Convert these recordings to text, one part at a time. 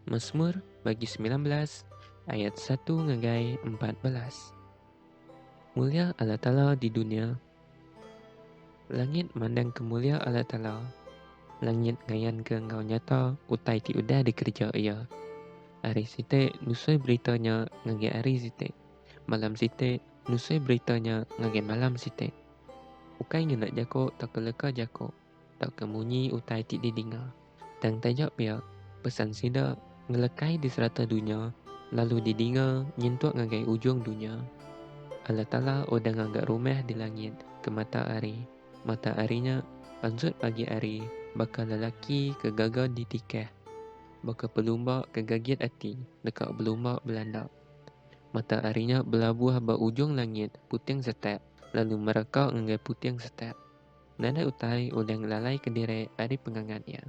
Masmur bagi semilan belas ayat satu ngagai empat belas. Mulia Allah Taala di dunia. Langit mandangka mulia Allah Taala. Langit ngayanka enggau nyata utai ti udah dikereja Iya. Hari siti nusui berita nya ngagai hari siti. Malam siti nusui berita nya ngagai malam siti. Ukai ngena jako tauka leka jako. tauka munyi utai ti didinga. Tang taja pia, pesan sida ngelekai di serata dunya lalu didinga nyentuk ngagai ujung dunya. Allah Taala udah ngaga rumah di langit ke mata hari. Mata hari nya pansut pagi hari baka lelaki ke gaga ditikah, baka pelumba ke gagit ati deka belumba belanda. Mata hari nya belabuh ba ujung langit puting setak lalu mereka ngagai puting setak. Nadai utai ulih ngelalaika diri ari pengangat iya.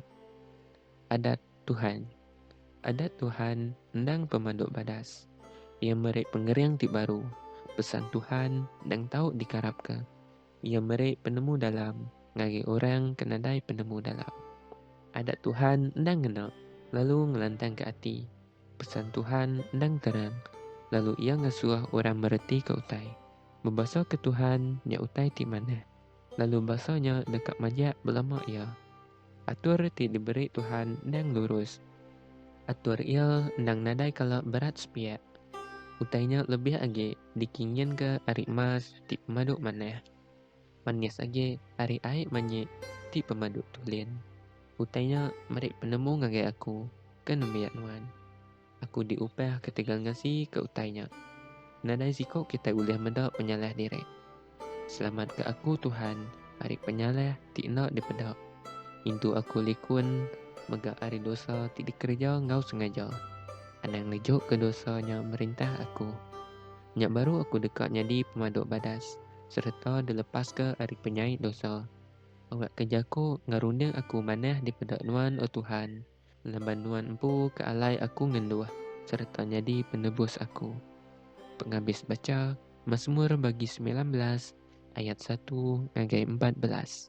Adat Tuhan. Adat Tuhan endang pemandu badas. Iya meri pengering ti baru. Pesan Tuhan endang tau dikarapka. Iya meri penemu dalam ngagai orang ke nadai penemu dalam. Adat Tuhan endang ngena, lalu ngelantangka ati. Pesan Tuhan endang terang, lalu iya ngasuh orang meretika utai. Bebasa ke Tuhan nya utai ti manah, lalu basa nya deka majak belama iya. Atur ti diberi Tuhan endang lurus. Atur Iya endang nadai kala berat sepiak. Utai nya lebih agi dikinginka ari emas ti pemadu manah. Manis agi ari ai manyi ti pemadu tulin. Utai nya meri penemu ngagai aku ke nembiak nuan. Aku diupah ketegal ngasi ke utai nya. Nadai siko kitai ulih meda penyalah diri. Selamat ke aku Tuhan ari penyalah ti enda dipeda. Intu aku likun mega ari dosa ti dikereja enggau sengaja. Anang nejuk ke dosa nya merintah aku. Nya baru aku deka nyadi pemadu badas sereta dilepas ke ari penyai dosa. Awak ke jako ngerunding aku manah dipeda Nuan o Tuhan. Laban Nuan empu ke alai aku ngenduh sereta nyadi penebus aku. Pengabis bacha, Masmur bagi semilan belas ayat satu ngagai empat belas.